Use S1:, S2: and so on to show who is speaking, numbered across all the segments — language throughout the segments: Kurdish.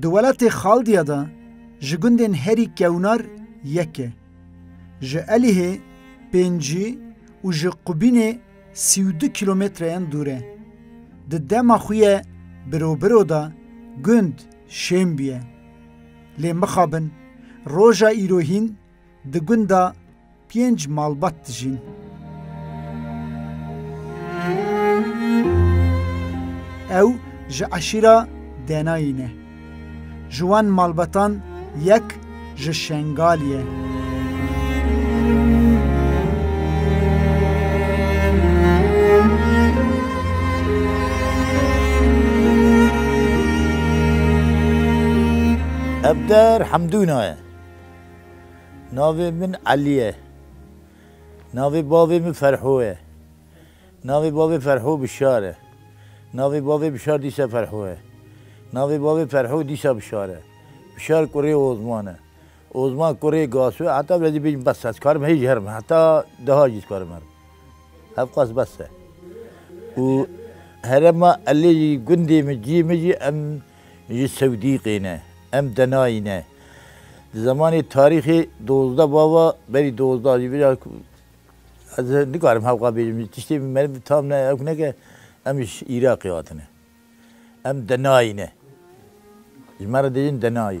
S1: Di welatê Xaldiya de ji gundên herî kewnar yek e. Ji Elihê pêncî û ji Qubînê sî û du kîlometreyan dûr e. Di dema xwe ye birobiro de gund Şêmbî ye. Lê mixabin roja îro hîn Di gunda pênc malbat dijîn. Ew ji eşîra Denayî ne. Ji wan malbatan yek ji Şengalî ye.
S2: Hevder Hemdûna ye. Navê min Elî ye. Navê bavê min Ferho ye. Navê bavê Ferho Bişar e. Navê bavê Bişar dîsa Ferho ye. Navê bavê Ferho dîsa Bişar e. Bişar kurê Ozman e. Ozman kurê Gasu e. Heta vila jî bêjim bes e. Ez dikarim hê jî herim. Heta deha jî dikarim herim. Hev qas bes e. Û herema Elî jî gundê min, ciyê min jî em Ji Sewdîqê ne. Em denayî ne. Di zemanê tarîxê dozdeh bava berî dozdeh ji bîra ku ez nikarim hewqa bêjim tiştê meriv bi tam ne ew neke em ji Îraqê hatine. Em denayî ne. Ji me re dê jin denayî.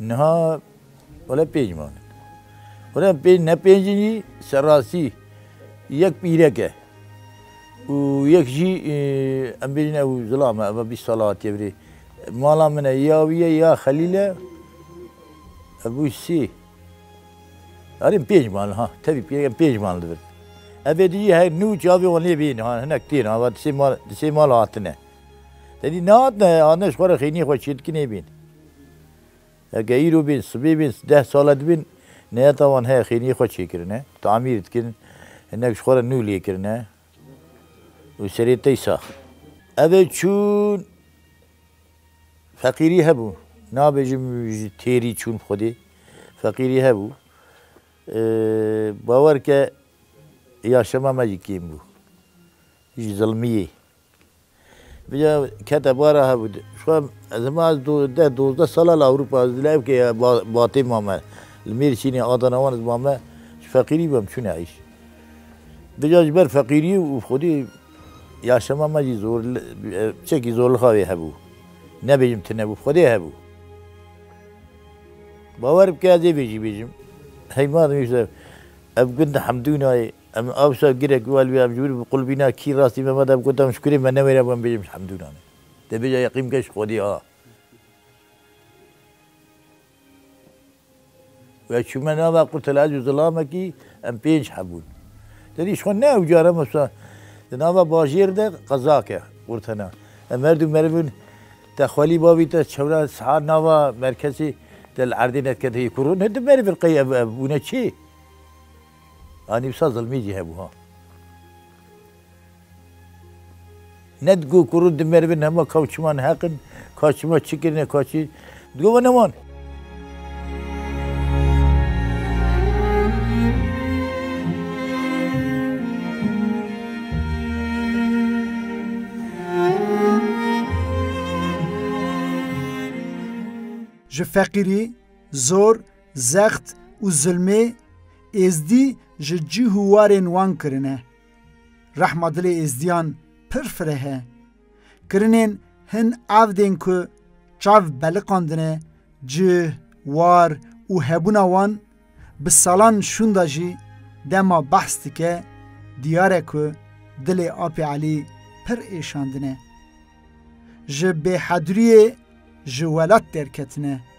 S2: Niha wele pênc man in. Wele pênc ne pênc in jî serrastî yek pîrek e û yek jî em bêjin ew zilam e eva bîst sala hatiye virê. Mala min e ya wî ye ya Xelîl e. Ev bû sê. Erê pênc mal ha tevî pîrek em pênc mal dibin. Evê dijî her nû çavê wan lê bîn ha hinek têr ha va di sê mal di sê mal hatine. Te dî nehatine hatine ji xwe re xêniyê xwe çê dikin ê bîn. Eke îro bîn, sibê bîn, deh sale dibîn neyata wan heye xêniyê xwe çêkirine, tamîr dikin, hinek ji xwe re nû lê kirine û serê tey sax in. Ev ê çûn feqîrî hebû, nabêjim ji têrî çûn bi xwedê, feqîrî hebû. Bawer ke ya şema me jî kêm bû ji zilmiyê. Vîya kete bara hev û di. Şuan ez hema ez du deh dozdeh sal a li Ewropa ez li evkê ya ba batê mame. Li Mêrsînê Adana wan ez mame ji feqîrî ve em çûne êş. Vîya ji ber feqîrî û xwedî yaşama me jî zor li çekî zorlixa wê hebû. Nebêjim tune bû xwedê hebû. Bawer bike ez ê vê jî bêjim. Heyma nivîse ev gund Hemdûnayê. Em awsa girek û elwî em ji wir biqulbîna kî rastî me veda bi gotan ji kurê me newêre wan bêjim ji Hemdûnan e. Dê bêje yeqîn bike ji Xwedî ha. Û ez çûme nava qurtela ez û zilamekî em pênc hebûn. Te dî ji xwe ne ew car em wisa di nava bajêr de qezak e qurtena. Em her du meriv in te xwelî bavî te çewra sihar nava merkezê te li erdê nedikete yê kurûn. Hin du meriv in qey ev bûne çê? A nivsa zilmî jî hebû ha. Ne digot ku rû dimerivin hema ka û çiman heq in, ka çima çi kirine, ka çi. Digot we ne wan.
S1: Ji feqîrî, zor, Zext û zilmê Êzdî ji cih û warên wan kirine. Rehma dilê Êzdiyan pir fireh e. Kirinên hin evdên ku çav beliqandine cih, war û hebûna wan bi salan şûnda jî dema behs dike diyar e ku dilê Apê Elî pir êşandine. Ji bêhedriyê ji welat derketine.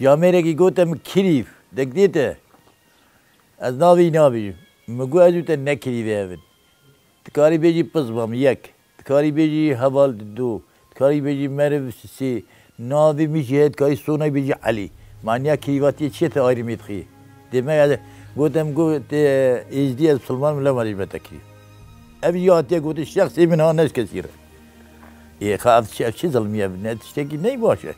S2: Di amêrekî gote min kirîv dek dê te. Ez navê nabînim. Min got ez û te ne kirîvê hev in. Dikarî bêjî pirs ba min yek. Dikarî bêjî heval di du. Dikarî bêjî meriv sê. Navê min jî heye dikarî sonayî bêjî Elî. Maniya kirîvatiyê çi ye te ayrımê dixî? Dê me ez gote min got te êzdî ez musilman im lewma dê ji me te kirîv. Ev jî hatiye gotin şexsê min ha ne ji kesî re. Yê xwe ev çi ev çi zilmîye bi ne tiştekî ney baş e.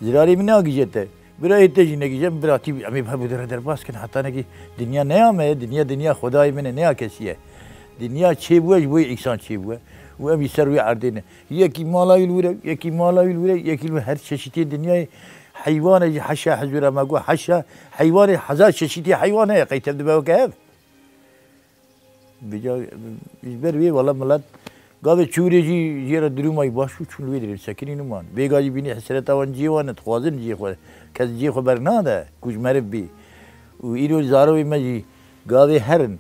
S2: Zirarê min nagije te. Birayê te jî negije min biratî bi. Em ê bi hemû re derbas kin hetanekî dinya ne ya me ye. Dinya dinya xwedayê min e ne ya kesî ye. Dinya çê bûye ji bo yê însan çê bûye û em jî ser wê erdê ne. Yekî mala wî li wir e, yekî mala wî li wir e, yekî li wir her çeşîtiyên dinyayê heywan e jî heşa hezûr e me got heşa heywanê hezar çeşîtî heywan heye qey tevdibe weke hev. Bêca ji ber wê wala milet gavê çûrê jî jê re dirûmayî baş bû çûn li wê derê sekinî niman. Bêga jî bînî hesreta wan cihê wan e dixwazin cihê xwe kes cihê xwe bernade ku ji meriv bî û îro zarokê me jî gavê herin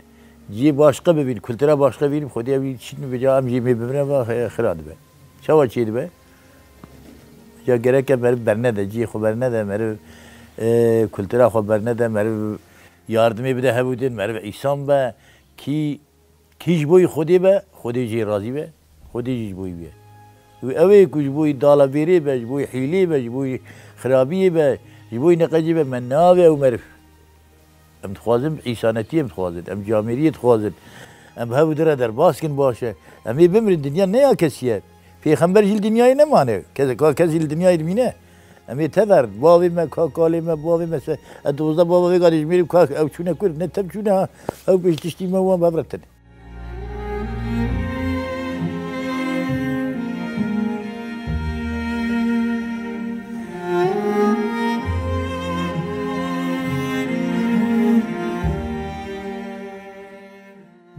S2: cihê başqe bibîn kultura başqe bîn xwedî ew jî diçîn bêca em jê mê bimre va xira dibe. Çawa çêdibe bêca gereke meriv bernede cihê xwe bernede meriv kultura xwe bernede meriv Yardimê bide hevûdin, meriv îsan be, kî kî ji bo wî Xwedê be, Xwedê jî razî be, Xwedê jî ji bo wî bûye. Wî ew ê ku ji bo wî dalavêrê be, ji bo wî hîlê be, ji bo wî xirabiyê be, ji bo wî neqecê be, me nabe ew meriv. Em dixwazin îsanetiyê em dixwazin, em camêriyê dixwazin. Em bi hevûdin re derbas kin baş e. Em ê bimirin, dinya ne ya kesî ye. Pêxember jî li dinyayê nemane, kes kes jî li dinyayê dimîne. Em ê tever, bavê me, ka kalê me, bavê me se ez dozda bava vê gadê ji mêrê ka ew çûne kur, ne tev çûne ha, ew bê ji tiştî me wan bevretin.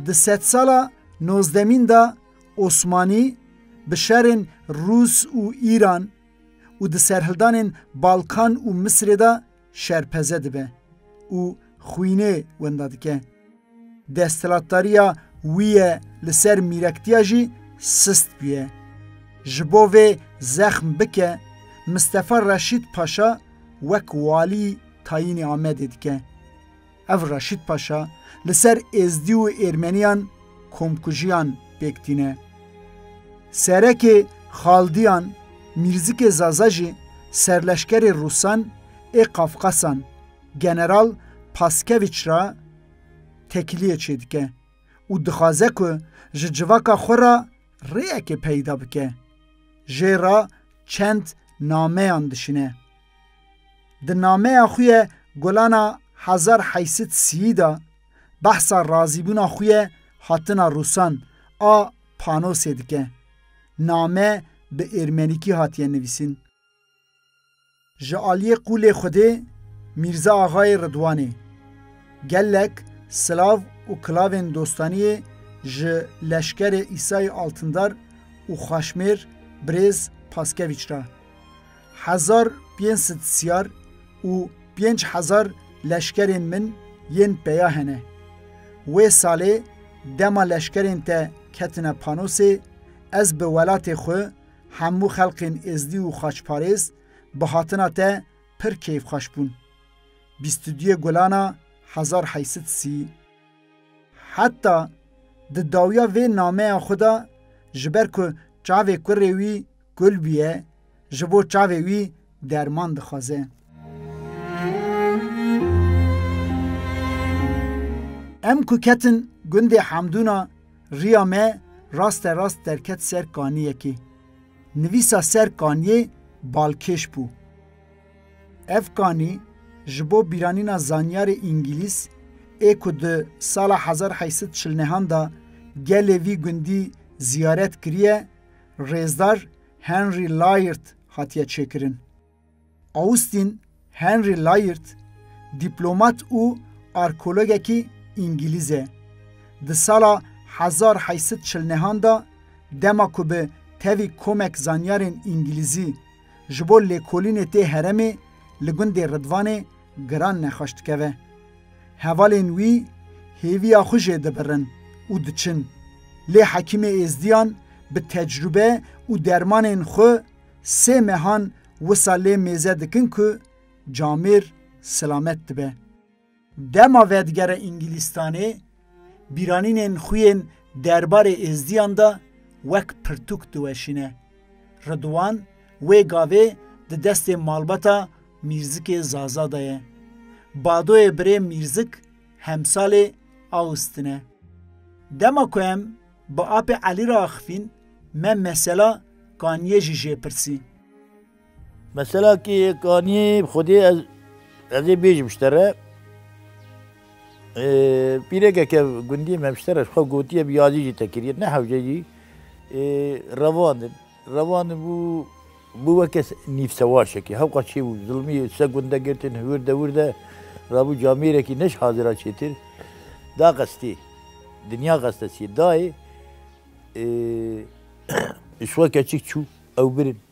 S1: Di sedsala nozdemîn de Osmanî bi şerên Rûs û Îran û di serhildanên Balkan û Misirê de şerpeze dibe û xwînê wenda dike. Desthilatdariya wî ye li ser mîrektiya jî sist bûye. Ji bo vê zexm bike, Mistefa Reşîd Paşa wek walî tayînî Amedê dike. Ev Reşît Paşa li ser Êzdî û Êrmeniyan komkujiyan pêk tîne. Serekê Xaldiyan, Mîrzikê Zaza jî serleşkerê Rûsan ê Qafqasan, General Paskevîç re tekiliyê çêdike û dixwaze ku ji civaka xwe re rêyekê peyda bike. Jê re çend nameyan dişîne. Di nameya xwe ye Golana Hazar Heysit Siyî de behsa razîbûna xwe ye hatina Rûsan a Panosê dike. Name bi êrmenîkî hatiye nivîsîn. Ji aliyê qûlê Xwedê Mîrza Axayê Ridwanê gelek silav û kilavên dostaniyê ji leşkerê Îsayê Altindar û Xaşmêr Birêz Paskevîç re. Hezar pênc sed siyar û pênc hezar leşkerên min yên peya hene. Wê salê dema leşkerên te ketine Panosê, ez bi welatê xwe, hemû xelkên êzdî û xaçparêz bi hatina te pir keyfxweş bûn. Bîst û duyê gulana hezar heysit sî. Heta di dawiya vê nameya xwe de ji ber ku çavê kurê wî kul bûye, ji bo çavê wî derman dixwaze. Em ku ketin gundê Hamdûna riya me raste rast derket ser kaniyekê. Nivîsa ser kaniyê balkêş bû. Ev kanî ji bo bîranîna zanyarê îngîlîz ê ku di sala hezar û heşt sed û çil û neh an de gelê vî gundî ziyaret kiriye, rêzdar Henry Layard hatiye çêkirin. Austin Henry Layard dîplomat û arkeologekî îngîlîz e. Di sala hezar û heşt sed û çil û neh an de dema ku bi tevî komek zanyarên îngîlîzî ji bo lêkolînê tê heremê li gundê Ridvanê giran nexweş dikeve. Hevalên wî hêviya xwe jê dibirin û diçin. Lê Hekîmê Êzdiyan bi tecrube û dermanên xwe sê mehan wisa lê mêze dikin ku Camêr silamet dibe. Dema vedigere Îngilîstanê, bîranînên xwe yên derbarê Êzdiyan de wek pirtûk diweşîne. Ridwan wê gavê di destê malbata Mîrzikê Zaza de ye. Badoyê birê Mîrzik hemsalê Awstin e. Dema ku em bi apê Elî re axifîn, me mesela Kaniyê jî jê pirsî.
S2: Mesela ki kanî xwedî ez ez ê bêjim ji te re pîrekeke gundî me ji te re ji xwe gotiye bi yazî jî te kiriye ne hewce jî revandin revandin bû bû weke nîvsewaşekî hewqas çê bû zilmî se gunde girtin hewir de wir de rabû camêrekî ne ji hazira çêtir da qestî dinya qeste çî dayê ji xwe keçik çû ew birin.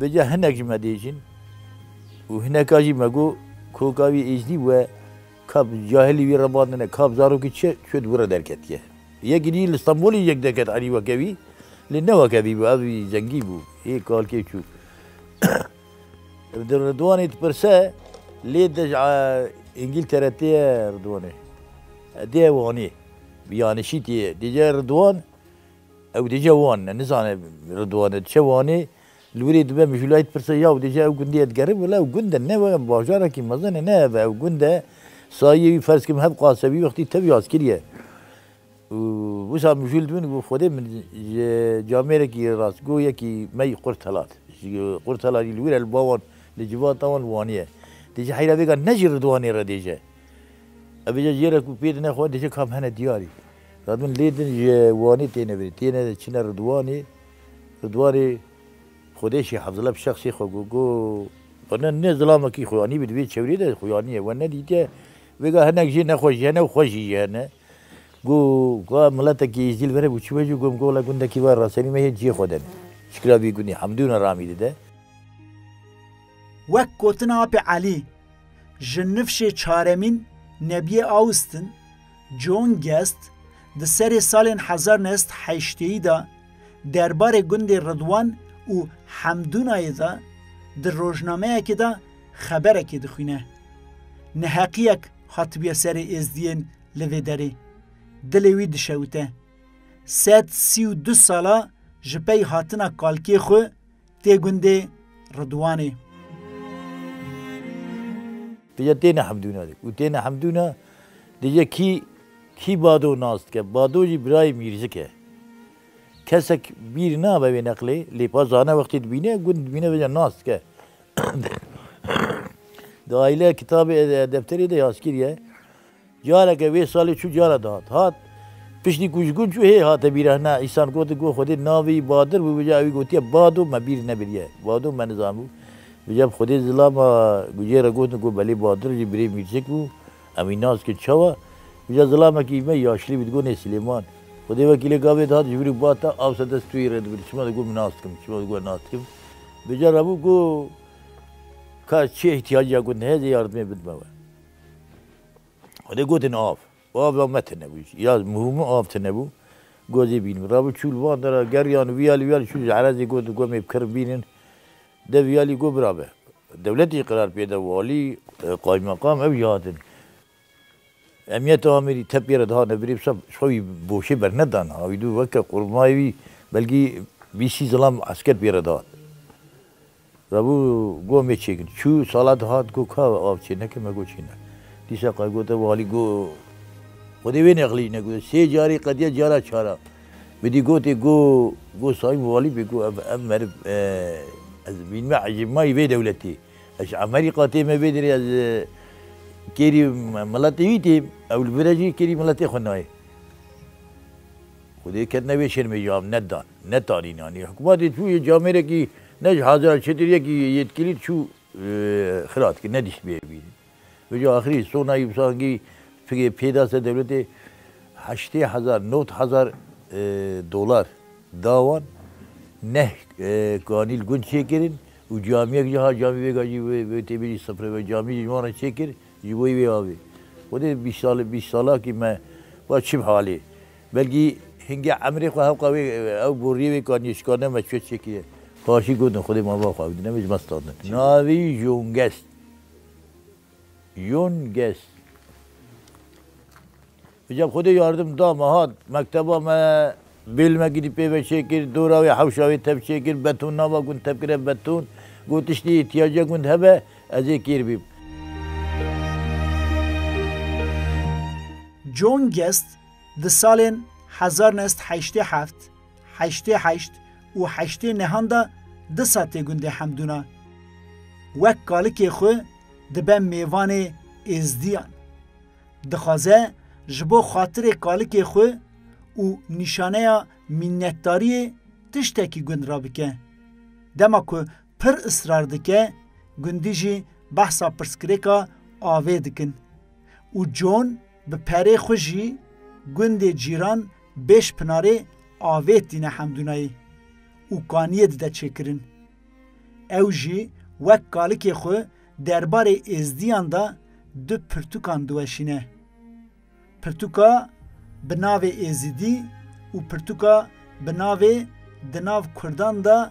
S2: Bêca hinek ji me dêjin û hineka jî me got, Koka wî Êjdî we ka bi cahilî wî re bandine, ka bi zarokî çi çû di wir re derketiye. Yek ginî li Stenbolê jî yek derket enî weke wî, lê ne weke vî bû, ev wî zengî bû, hê kalkê çû. Di Ridwanê dipirse, lê te ji Îngîltere tê ye Ridwanê? Tê ye Wanê, bi yanişî tê ye. Dêje Ridwan Ew dê ca wan ne, nizane Ridwan e, diçe Wanê, li wir ê dibe Mijûlayê dipirse ya ew dê ca ew gundiyê digerib, wila ew gund e, ne were bajarekî mezin e, ne hev e, ew gund e, sayiyê wî ferz kim hev qase wî wextî tevî askirî ye. Û wisa mijûl dibin û got Xwedê min ji camêrekî rastgo yekî me yî qurt helat. Ji qurt helalî li wir e, li ba wan, li civata wan Wanî ye. Dê ca heyra vêga ne ji Ridwanê re dê ce. Ev ê ca jê re ku pê dine xwe dê ca kam hene diyarî. Radûn lê din ji Wanê têne vir, têne çine Ridwanê, Ridwanê xwedêşî Hafzillah bi şexsê xwe got, got Bana ne zilamekî xuyanîbû di vê çewrê de xuyaniye, we nedîtiye, vêga hinek jê nexweş jî hene û xweş jî jî hene. Got ka miletekî Êzdîl vere bû çibe jî, got min ka wela gundekî va rasenî me hê ciyê xwe de ne. Çikira vê gundê Hemdûna Ramî di de.
S1: Wek gotina Apê Elî, ji nifşê çaremîn Nebiyê Austin John Guest di serê salên hezar neh sed heşteyî de derbarê gundê Ridwan û Hemdûnayê de di rojnameyekê de xeberekê dixwîne. Neheqiyek hatibiye serê êzdiyên li vê derê. Dilê wî dişewite. Sed sî û du sala ji pey hatina kalkê xwe Tê gundê Ridwanê.
S2: Di ye têne hemdûna dik û têne hemdûna di ye kî kî bado nas dike. Bado jî birayê mîrzik e. Kesek bîr nabe wê neqlê lê pa zana wextê dibîne gund dibîne vêca nas dike. Di aîle kitabê edebterê de yaskîr ye. Careke wê salê çû cara dihat. Hat. Piştî ku ji gund çû hê hate bîrehna. Îsan gotin ku Xwedê navê Badir bû bija ewî gotiye Bado me bîr nebiriye. Bado me nizanbû. Bija bi Xwedê zilama gujê re gotin ku belê Badir jî birê Mîrçik bû. Em wî nas dikin çawa. Bija zilamekî me yaşlî bû digonê Silêman. Xwedê wekîlê gavê dihat ji vir û ba ta awsa dest tuyê re dibir çima digo min nas dikim çima digo nas dikim. Bija rabû ku ka çi îhtiyac ya gotin heye zê yardimê bidime we. Xwedê gotin av. Av la me tune bû. Ya mûhûmû av tune bû. Gozê bînim. Rabû çûl van de ra geriyan û viyalî viyalî çû ji Elezê got ku em ê bi kirm bînin. De viyalî got bira be. Dewletê jî qerar pê da, walî, qaymeqam ew jî hatin. Emniyeta Amêdî tepî re dihate birê bi saf ji xwe wî boşê bernedan. Wî dû weke qurmayê wî belkî bîst sî zilam esker pê re dihat. Rabû goh mê çêgin. Çû sala di hat goh ka av çê neke me goh çê ne. Dîsa qay gote walî goh Xwedê wê nexlîj ne goh sê carî qediya cara çara bidî gotê goh goh Sayîn walî bê goh ev ev meriv ez bînme ecêbmayî vê dewletê ez ji Amerî qatê me vê derê ez kêrî miletê wî têm ew li vir e jî kêrî miletê xwe nayê. Xwedê ketine vê şermê ji av nedan netanîn anî hikûmatê tû yê camêrekî Ne ji Haziran çêtir yekî yêtkilî çû xilat kir, ne dîst bê bînin. Vê ca axirî Sona Yûbsangî fikê pê da ser dewletê heştê hezar, nod hezar dolar da wan. Neh kanîl gund çêkirin û camiyek jî hat camî vêga jî wê tê bêjî sifre ve camî jî ji wan re çêkir ji bo wê avê. Xwedê bîst salakî me va çi bi halê. Belkî hingê emrê xwe hewqa wê ew boriyê wê ka nê şikar nebe çi çêkî ye. Paşî gotin xwedê mava xwe ew di nemê ji me standin. Navî Jongest. Jongest. Îca bi xwedê yardim da me hat mekteba me bêlmekî dî pê ve çêkir, dora wê hewşa wê tev çêkir, beton nava gund tevkire beton. Got tiştî îhtîyaca gund hebe ez ê kêr bîm.
S1: Jongest Di salên hezar neh sed heştê heft, heştê heşt û heştê nehan de disa tê gundê Hemdûna wek kalikê xwe dibe mêvanê Êzdiyan. Dixwaze ji bo xatirê kalikê xwe û nîşaneya mînnetdariyê tiştekî gund rabike. Dema ku pir israr dike, gundî jî behsa pirsgirêka avê dikin û John, Bi perê xwe jî gundê Cîran bêş pinarê avêt tîne Hemdûnayê û kaniyê dide çêkirin. Ew jî wek kalikê xwe derbarê êzdiyan de du pirtûkan diweşîne. Pirtûka bi navê Êzidî û pirtûka bi navê Di nav Kurdan de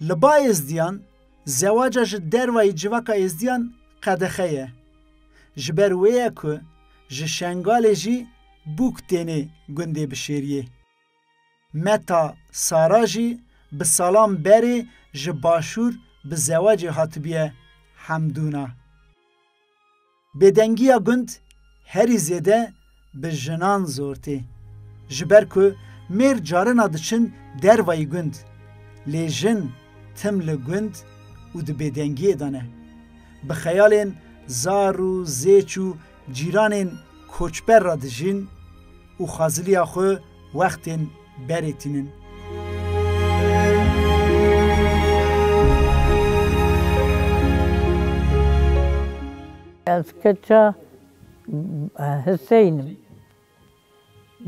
S1: Li ba êzdiyan, zewaca ji dervayî civaka êzdiyan qedexe ye. Ji ber wê ye ku ji Şengalê jî bûk tênê gundê Bişêriyê. Meta Sara jî bi salan berê ji Başûr bi zewacê hatibiye Hemdûna. Bêdengiya gund herî zêde bi jinan zor tê. Ji ber ku mêr carina diçin dervayî gund, lê jin tim li gund û di bêdengiyê de ne. Bi xeyalên zar û zêç û cîranên koçber re dijîn û xaziliya xwe wextên berê tînin.
S3: Ez keça Hiseyn im.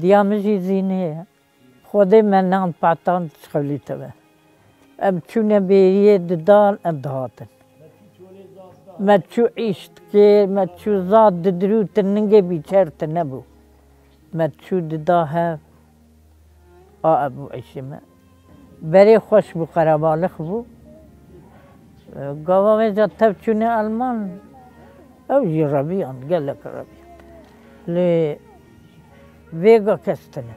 S3: Diya min jî Zînê ye. Xwedê me nan Patan Çixolî teve. Em çûne bêriyê didan em dihatin. Me çû îş dikê, me çû za didirû ti ningê bîçer ti nebû. Me çû dida hev a ev bû îşê me. Berê xweş bû qerebalix bû. Gava wê ca tev çûne Elman ew jî reviyan gelek reviyan. Lê vêga kes tine.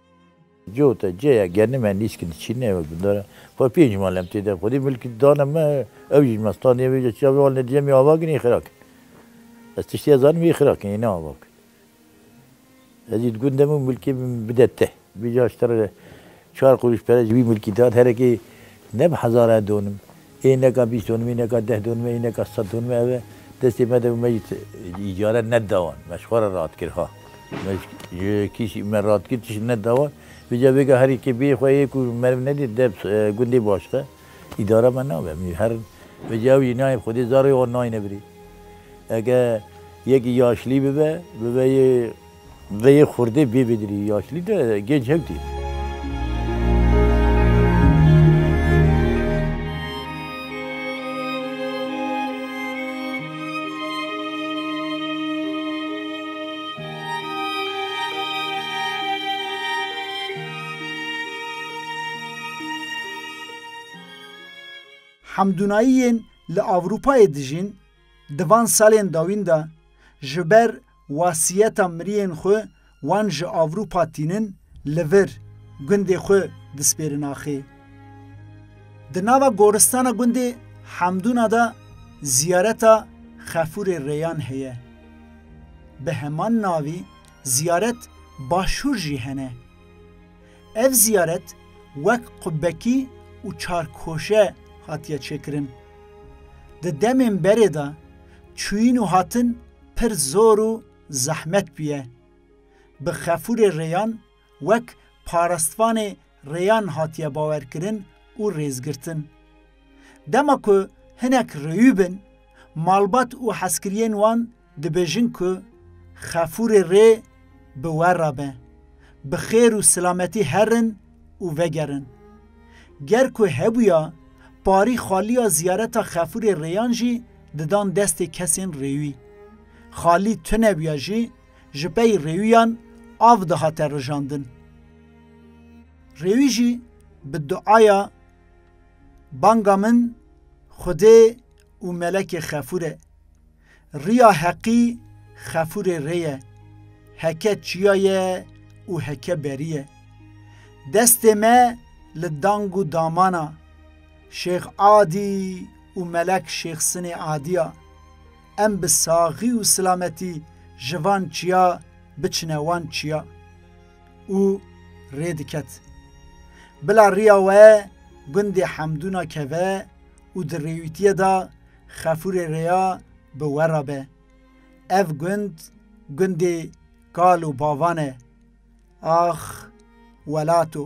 S1: Cota,
S2: ceya, genî me nîşkî diçîne û bindore xwe pênc mal em tê de xwedî milkî dane me ew jî ji me standî em ê ji çavê alîne diyem ê ava kin ê xira kin. Ez tiştê ez zanîm ê xira kin ê ne ava kin. Ez jî di gund de me û milkê min bide te. Bêje aştere re çar qurûş pere ji wî milkî dan herekê ne bi hezaran donim. Ê neka bîst donimê, neka deh donimê, ê neka sed donimê ev e. Destê me de me jî îcaret neda wan. Me ji xwe re rat kir ha. Me ji kîşî me rat kir tişt neda wan. Vêca vêga herî kê bêyê xwe yê ku meriv nedê deb gundê başxe îdara me nabe. Min jî herin. Vêca ew jî nayê xwedê zarê wan nayne birî. Eke yekî yaşlî bibe, bibe yê. Ve yê xurdê bê bêdirî yaşlî de gênc hev dî.
S1: Hemdûnayiyên li Ewropayê dijîn di van salên dawîn de ji ber Wasiyeta miriyên xwe wan ji Avrupa tînin li vir gundê xwe dispêrin axê. Di nava goristana gundê Hemdûna de ziyareta Xefûrê Rêyan heye. Bi heman navî ziyaret Başûr jî hene. Ev ziyaret wek qubekî û çarkoşe hatiye çêkirin. Di demên berê de çûyîn û hatin pir zor û zehmet bûye. Bi xefûrê rêyan wek parastvanê rêyan hatiye bawerkirin û rêzgirtin. Dema ku hinek rêyû bin, malbat û hezkiriyên wan dibêjin ku xefûrê rê, Bi we re be. Bi xêr û silametî herin û vegerin. Ger ku hebûya, parî Xalîya ziyareta Xefûrê Rêyan jî didan destê kesên rêwî. Xalî tunebûya jî ji pey rêwîyan av dihate rijandin. Rêwî jî bi duaya Banga min Xwedê û Melekê Xefûr e. Riya heqî xefûrê rê ye, heke çiya ye û heke berî ye. Destê me li dang û damana Şêx Adî û Melek Şêx Sinê Adî ya. Em bi saxî û silametî ji van çiya biçine wan çiya. Û rê diket. Bila riya we gundê Hemdûna keve û di rêwîtiyê de Xefûrê rêya bi we re be. Ev gund gundê kal û bavan e. Ax welato.